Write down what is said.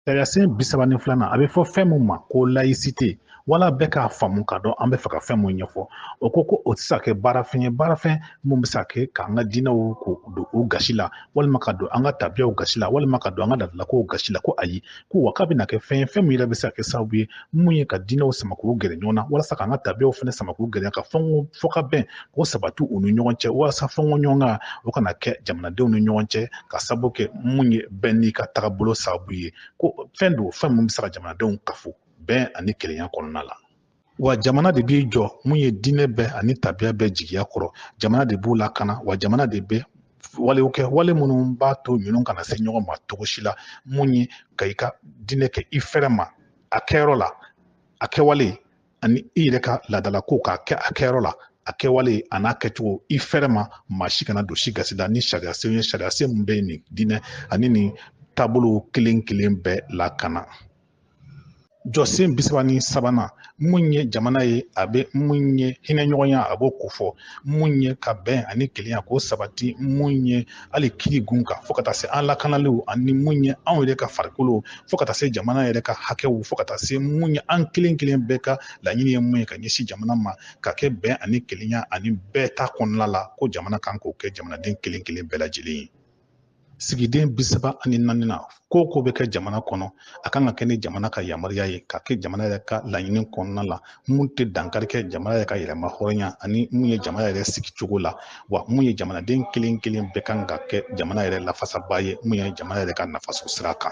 Sariyasen bi saba ni filanan a bɛ fɔ fɛn mun ma ko layisite wala bɛɛ k'a faamu k'a dɔn an b'a fɛ ka fɛn mun ɲɛfɔ o ko ko o tɛ se ka kɛ baarafɛn ye baarafɛn mun bɛ se ka kɛ k'an ka diinɛw ko don o gasi la walima ka don an ka tabiyaw gasi la walima ka don an ka laadalakow gasi la ko ayi ko wa k'a bɛna kɛ fɛn ye fɛn min yɛrɛ bɛ se ka kɛ sababu ye mun ye ka diinɛw sama k'u gɛrɛ ɲɔgɔn na walasa k'an ka tabiyaw fana sama k'u gɛrɛ ka fɛnw fɔ ka bɛn k'o sabati u ni ɲɔgɔn cɛ walasa fɛnko ɲɔgɔnkan o kana kɛ jamanadenw ni ɲɔgɔn cɛ ka sabu kɛ mun ye bɛɛ n'i ka tagabolo sababu ye ko fɛn don fɛn min bɛ se ka jamanadenw kafo bɛn ani kelenya kɔnɔna la wa jamana de b'i jɔ mun ye diinɛ bɛɛ ani tabiya bɛɛ jigiya kɔrɔ jamana de b'u lakana wa jamana de bɛ walew kɛ wale minnu b'a to ninnu kana se ɲɔgɔn ma cogo si la mun ye ka i ka diinɛ kɛ i fɛrɛ ma a kɛyɔrɔ la a kɛwale ani i yɛrɛ ka laadalako k'a kɛ a kɛyɔrɔ la a kɛwale an'a kɛcogo i fɛrɛ ma maa si kana don si gasi la nin sariyasen ye sariyasen min bɛ nin diinɛ ani nin taabolo kelen kelen bɛɛ lakana jɔsen bi saba ni sabanan mun ye jamana ye a bɛ mun ye hinɛɲɔgɔnya a b'o kofɔ mun ye ka bɛn ani kelenya k'o sabati mun ye hali kiri kunkan fo ka taa se an lakanaliw ani mun ye anw yɛrɛ ka farikolo fo ka taa se jamana yɛrɛ ka hakɛw fo ka taa se mun ye an kelen kelen bɛɛ ka laɲini ye mun ye ka ɲɛsin jamana ma ka kɛ bɛn ani kelenya ani bɛɛ ta kɔnɔna la ko jamana kan k'o kɛ jamanaden kelen kelen bɛɛ lajɛlen ye sigiden bi saba ani naaninan ko o ko bɛ kɛ jamana kɔnɔ a kan ka kɛ ni jamana ka yamaruya ye ka kɛ jamana yɛrɛ ka laɲini kɔnɔna la mun tɛ dankari kɛ jamana yɛrɛ ka yɛrɛmahɔrɔnya ani mun ye jamana yɛrɛ sigicogo la wa mun ye jamanaden kelen kelen bɛɛ kan ka kɛ jamana yɛrɛ lafasaba ye mun ye jamana yɛrɛ ka nafasɔrɔ sira kan